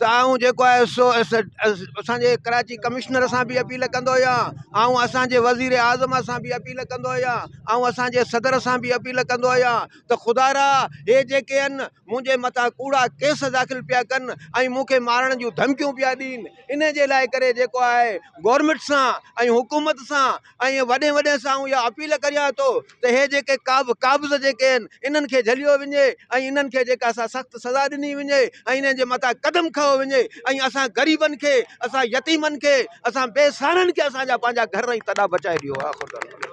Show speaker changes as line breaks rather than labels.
ته آئون جيڪو آهي سو اسان جي ڪراچي ڪمشنر سان بي اپيل ڪندو آهيان آئون اسان جي وزير اعظم سان بي اپيل ڪندو آهيان آئون اسان جي صدر سان بي اپيل ڪندو آهيان ته خدا را هي جيڪي آهن منهنجي مٿان ڪوڙا ڪيس داخل پيا ڪن ۽ مون کي مارڻ جون ڌمڪيون پيا ڏين ان جي لاء ڪري جيڪو آهي گورمنٽ سان ۽ حڪومت سان ۽ وڏي وڏي سان آئون اها اپيل ڪريان ٿو ته هي جيڪي ڪابه قابض جيڪي آهن انهن کي جهليو وڃي ۽ انهن کي جيڪا سا سخت سزا ڏني وڃي ۽ انهن جي مٿان قدم کنيو وڃي ۽ اسان غريبن کي اسان يتيمن کي اسان بي سهارن کي اسان جا پنهنجا گهر ۽ تڏا بچائي ڏيو آخر دعوانا.